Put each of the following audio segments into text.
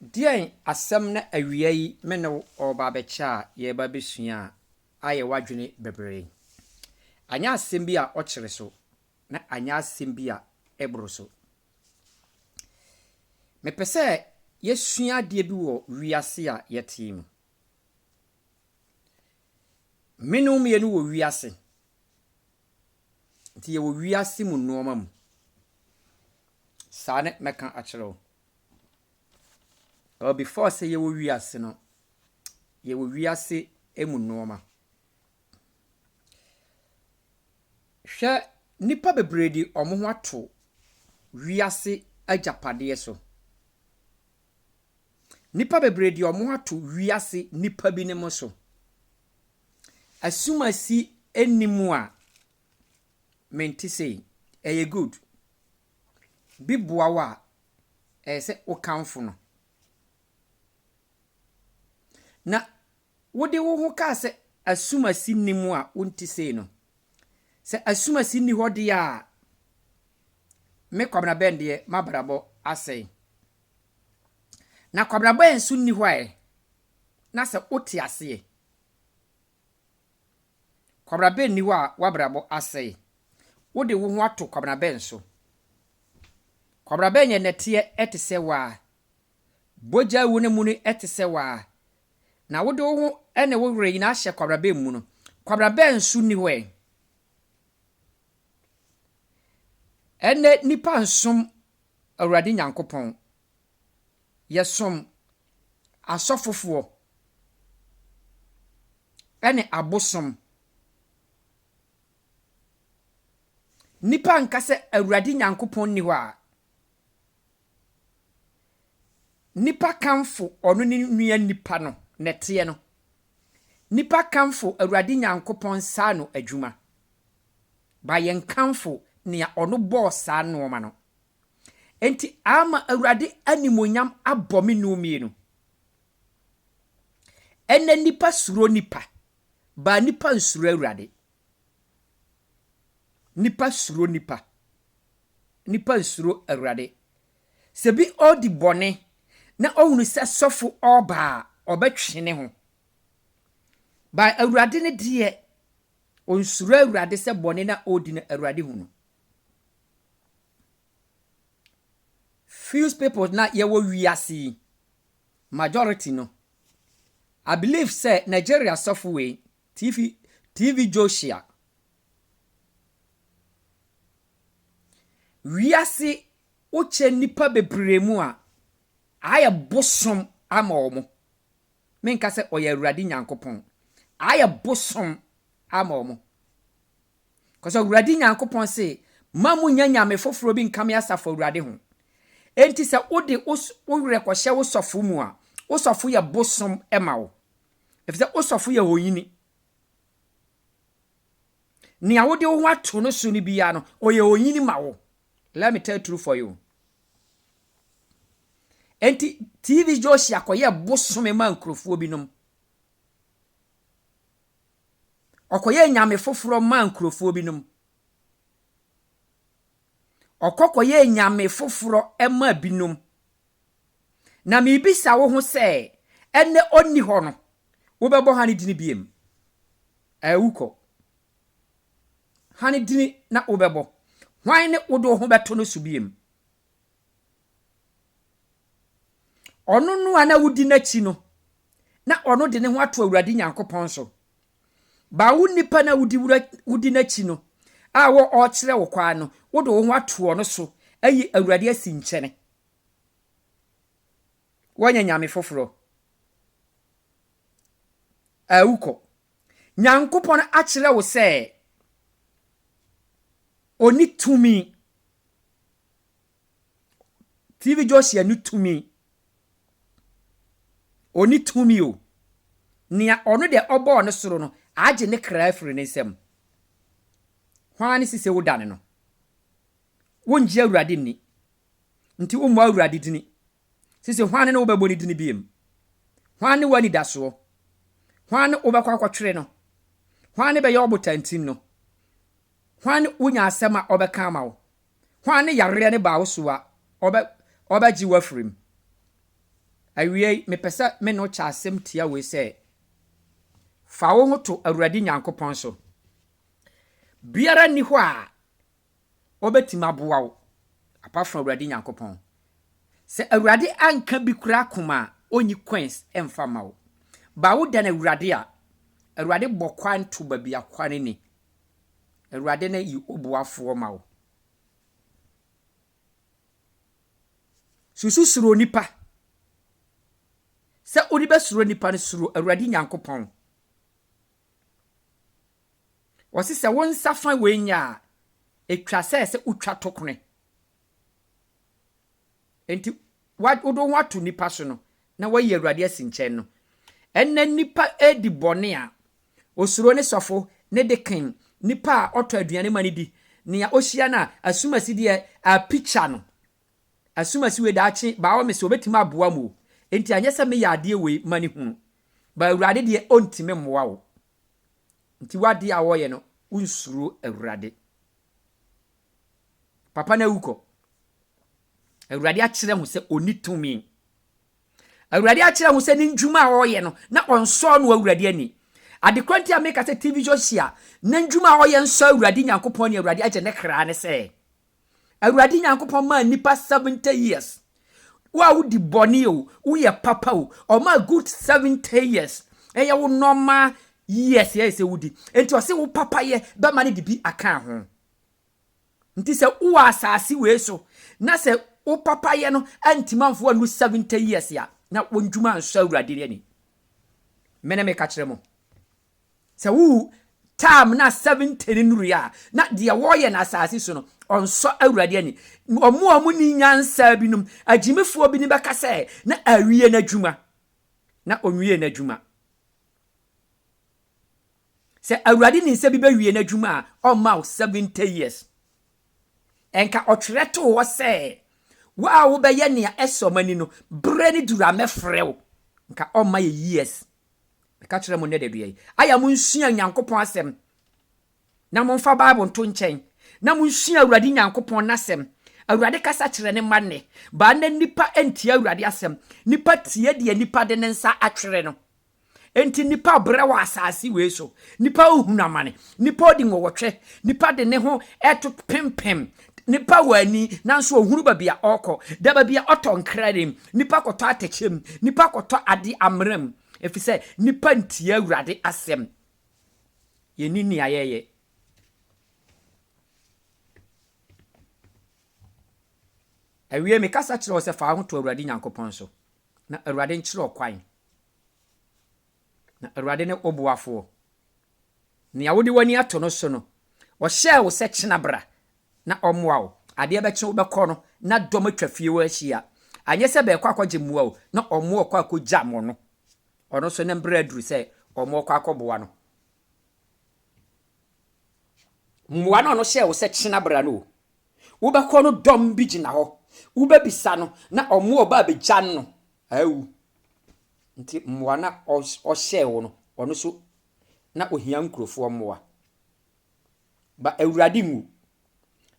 Deɛn asɛm na awia yi me ne wo ɔreba abɛkyɛ a yɛreba abɛsua a ayɛ w'adwene bebree? Anyɛ asɛm bi a ɔkyere so, na anyɛ asɛm bi a ɛboro so. Mepɛ sɛ yɛsua adeɛ bi wɔ wiase a yɛte yi mu. Me ne wo mmienu wɔ wiase. Nti yɛwɔ wiase mu nnoɔma mu. Saa ne mɛka akyerɛ wo. Ɛwɔ before sɛ yɛwɔ wiase no, yɛwɔ wiase mu nnoɔma. Hwɛ nnipa bebree de wɔn ho ato wiase agyapadeɛ so. Nnipa bebree de wɔn ato wiase nnipa binom so. Asumasi nni mu a mente sei. Ɛyɛ good. Bi boa wo a, ɛyɛ sɛ wokamfo no. Na Wode wo ho kaa sɛ asumasi nni mu a wonte sei no. Sɛ asumasi nni hɔ deɛ a, me Kwabena Ben deɛ m'abrabɔ asɛe. Na Kwabena Ben nso nni hɔ ɛ, na sɛ wote aseɛ. Kwabena Ben nni hɔ a w'abrabɔ asɛe. Wode wo ho ato Kwabena Ben so. Kwabena Ben yɛ nɛteɛ te sɛ wo ara. bɔgyaa wu no mu no te sɛ w'aa, na wode wo ho ne wo werɛ nyinaa hyɛ kwabrabɛ mu no, kwabrabɛ nso nni hɔ ɛ. Ɛnnɛ nnipa nsom Awurade Nyankopɔn. Yɛsom asɔfofoɔ ne abosom. Nnipa nka sɛ Awurade Nyankopɔn nni hɔ a, Nnipa kamfo ɔno ne nua nnipa no, na ɛteɛ no. Nnipa kamfo Awurade Nyankopɔn saa ano adwuma, ba yɛn kamfo nea ɔno bɔɔ saa nnoɔma no. Enti ama Awurade animuonyam abɔ me nu mmienu. Ɛnnɛ nnipa suro nnipa, ba nnipa nsuro Awurade. Nnipa suro nnipa. Nnipa nsuro Awurade. Sɛ bi ɔredi bɔne na ɔhunu sɛ sɔfo ɔreba a, ɔbɛtwe ne ho. Ba Awurade no deɛ, ɔnsuro Awurade sɛ bɔne na ɔredi no, Awurade hu no. Few people na yɛwɔ wiase yi, majority no, I believe sɛ Nigeria sɔfo wei, TV TV Joshua Wiase wokyɛ nnipa bebree mu a, ayɛ bosom ama wɔn. Menka sɛ ɔyɛ Awurade Nyankopɔn. Ayɛ bosom ama wɔn. Kɔsɛ Awurade Nyankopɔn se, ma mo nya nyame foforɔ bi nka me asafo Awurade ho. Enti sɛ wode wo werɛ kɔhyɛ wo sɔfo mu a, wo sɔfo yɛ bosom ma wo. efisɛ wo sɔfo yɛ onyini. Nea wode wo ho ato no so no biara no, ɔyɛ onyini ma wo. Let me tell true for you. Enti TV Josia kɔyɛ bosome ma nkurɔfoɔ binom. Ɔkɔyɛ nyame foforɔ ma nkurɔfoɔ binom. Ɔkɔ kɔyɛ nyame foforɔ ma binom. Na mebisa wo ho sɛ, ɛnnɛ ɔnni hɔ no, wobɛbɔ Hane dini biom? Ɛɛ, wokɔ. Hane dini na wobɛbɔ. Hwan ne wode wo ho bɛto no so biom? Ɔno no a na wodi n'akyi no, na ɔno de ne ho ato Awurade Nyankopɔn so. Ba wo nipa no a wodi wura, wodi n'akyi no, a wɔ ɔrekyerɛ wo kwan no, wode wo ho ato ɔno so, ayi Awurade asi nkyɛne. Wɔnyɛ nyame foforɔ a wokɔ. Nyankopɔn akyerɛ wo sɛ Ɔni tumi. TV Josia ni tumi. Ɔni tumi o. Nea ɔno deɛ ɔbɔɔ ne soro no, agye ne kra afiri ne nsam. Hwan ne sise wodane no? Wongye Awurade nni. Nti wommɔ Awurade dini. Sese hwan ne wo bɛbɔ ne dini biom? Hwan ne w'anidasoɔ? Hwan ne wobɛkɔ akɔtwere no? Hwan ne bɛyɛ ɔbotantim no? Hwan ne wonya asɛm a ɔbɛka ama wo? Hwan ne yareɛ no ba wo so a ɔbɛ ɔbɛgye wo afiri mu? Awiei, mepɛ sɛ me ne wo kyɛ asɛm tia wei sɛ, fa wo ho to Awurade Nyankopɔn so. Biara nni hɔ a ɔbɛtumi aboa wo apart from Awurade Nyankopɔn. Sɛ Awurade anka bi koraa koma a, ɔnyi coins mfa mma wo. But wo dane Awurade a, Awurade bɔ kwan to baabi a kwan nni. Awurade no yi ɔboafoɔ ma wo. Susu suro nipa. Sɛ wode bɛsuro nipa no, suro Awurade Nyankopɔn. Wɔse sɛ wo nsa fa wei nyɛ a, ɛtwa sɛ sɛ wotwa tokone. Enti wode wo ho ato nnipa so no, na woayi Awurade asi nkyɛn no. Ɛnnɛ nnipa redi bɔne a, osuro ne sɔfo, ne deken, nipa a ɔtɔ aduane ma no di, nea ohyia no a asumasideɛ apikya no, Asumasi wei daakye by all means ɔbɛtumi aboa mo o, enti anyɛ sɛ meyɛ adeɛ wei ma ne hunu, but Awurade deɛ ɔntumi mmoa wo, nti w'adeɛ a wɔyɛ no wonsuro Awurade. Papa no awu kɔ. Awurade akyerɛ ho sɛ ɔnni tumi. Awurade akyerɛ ho sɛ ne ndwuma a ɔyɛ no na ɔnsɔɔ no Awurade ani. Adekorɔ nti a meka sɛ TV Josia ne ndwuma a ɔyɛ nsɔ Awurade Nyankopɔn ne Awurade agye ne kra ne sɛ, Awurade Nyankopɔn maa nnipa 70 years. Wo a wodi bɔne o, woyɛ papa o, ɔmaa good 70 years. Ɛyɛ wo normal years ɛyɛ sɛ wodi. Nti ɔse wo papayɛ bɛma no de bi aka ho. Nti sɛ wowɔ asase wei so na sɛ wo papayɛ no antimi amfo annu 70 years a, na wondwuma ansɔ Awurade ani. Mene meka kyerɛ mo. Sɛ wo term no a seventy no nurui a, na deɛ wɔyɛ no asase so no, ɔnsɔ Awurade ani. Wɔn a wɔnni nyansa binom, agyimifoɔ binom bɛka sɛ, na awie n'adwuma. Na ɔnwiee n'adwuma. Sɛ Awurade nim sɛ bi bɛwie n'adwuma a, ɔmma wo seventy years. Ɛnka ɔtwerɛ too hɔ sɛ, wo a wobɛyɛ nea ɛsɔ m'ani no, berɛ no duru a mɛfrɛ wo. Nka ɔmma yɛ years. Meka kyerɛ mo nnɛ da dua yi, ayɛ a monsua Nyankopɔn asɛm, na momfa Bible nto nkyɛn, na monsua Awurade Nyankopɔn n'asɛm. Awurade kasa kyerɛ ne mma nnɛ, baa nnɛ nnipa ntie Awurade asɛm. Nnipa tie deɛ nnipa de ne nsa atwere no. Enti nnipa brɛ wɔ asase wei so, nnipa rehunu amane, nnipa odi nwɔwɔtwe, nnipa de ne ho ɛto pempem Nipa wɔ ani nanso ohunu baabi a ɔrekɔ. Da baabi a ɔtɔ nkra nim. Nipa kɔtɔ atɛkyɛ mu. Nipa kɔtɔ ade amena mu. Efisɛ nipa ntie Awurade asɛm. Yenni nea yɛyɛ. Awie mekasa kyerɛ wo sɛ fa wo ho to Awurade Nyankopɔn so, na Awurade nkyerɛ ɔkwan. na Awurade ne wo boafoɔ. Nea wode w'ani ato no so no, ɔhyɛɛ wo sɛ kyena bra na ɔmmoa wo. Adeɛ bɛkye wobɛkɔ no, na dɔm atwa fie hɔ ahyia. Anyɛ sɛ bɛrekɔ akɔgye mmoa o, na wɔrekɔ akɔgya mo no. Ɔno nso ne mberɛ aduru sɛ wɔrekɔ akɔboa no. Mmoa no a ɔno hyɛɛ wo sɛ kyena bra no o. Wobɛkɔ no dɔm bi gyina hɔ, wobɛbisa no na wɔn a wɔba abɛgya no Awu, nti mmoa no a ɔhyɛɛ wo no, ɔno nso na ɔhia nkurofoɔ mmoa. Ba Awurade nwu.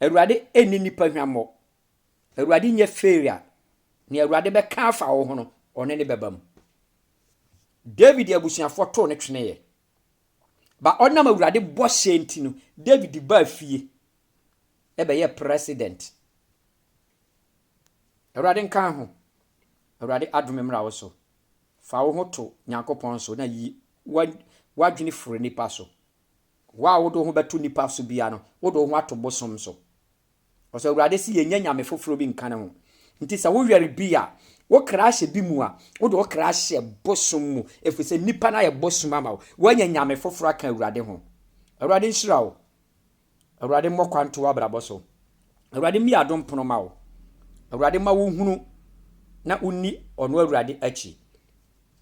Awurade nni nnipa hwammɔ. Awurade nyɛ fairy a nea Awurade bɛka afa wo ho no, ɔne no bɛba mu. David abusuafoɔ too no tweneeɛ. Ba ɔnam Awurade bɔhyɛ nti no, David baa fie ɛbɛyɛɛ president. Awurade nka ho. Awurade adome mmra wo so. Fa wo ho to Nyankopɔn so na yi w'adwene firi nnipa so. Wo a wode wo ho bɛto nnipa so bia no, wode wo ho ato bosom so. Ɔsɛ Awurade se yɛnyɛ nyame foforɔ bi nka ne ho. Nti sɛ woyare bi a, wo kra ahyɛ bi mu a, wode wo kra ahyɛ bosom mu, ɛfiri sɛ nnipa no ayɛ bosom ama wo. Woanya nyame foforɔ aka Awurade ho. Awurade nhyira wo. Awurade mmɔ kwan nto w'abrabɔ so. Awurade mmue adom pono ma wo. Awurade mma wo nhunu na wo nni ɔno Awurade akyi.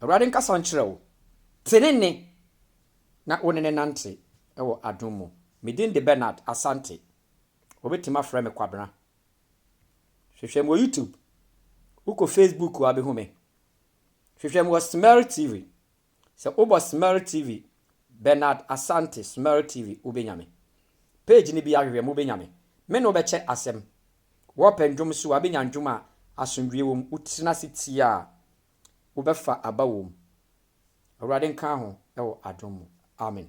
Awurade nkasa nkyerɛ wo tenene na wo ne no nante wɔ adom mu. Me din de Bernard Asante. Wobɛtumi afrɛ me Kwabena. Hwehwɛ me wɔ YouTube. Wokɔ Facebook a wobɛhu me. Hwehwɛ me wɔ Smear TV. Sɛ wobɔ Smer TV Bernard Asante Smer TV wobɛnya me. Page no bia hwehwɛ me wobɛnya me. Me ne wo bɛkyɛ asɛm. Wɔpɛ ndwom so a wobɛnya ndwom a asomdwie wɔ mu. Wotena ase tie a wobɛfa aba wɔ mu. Awurade nka ho wɔ adom mu. Amen.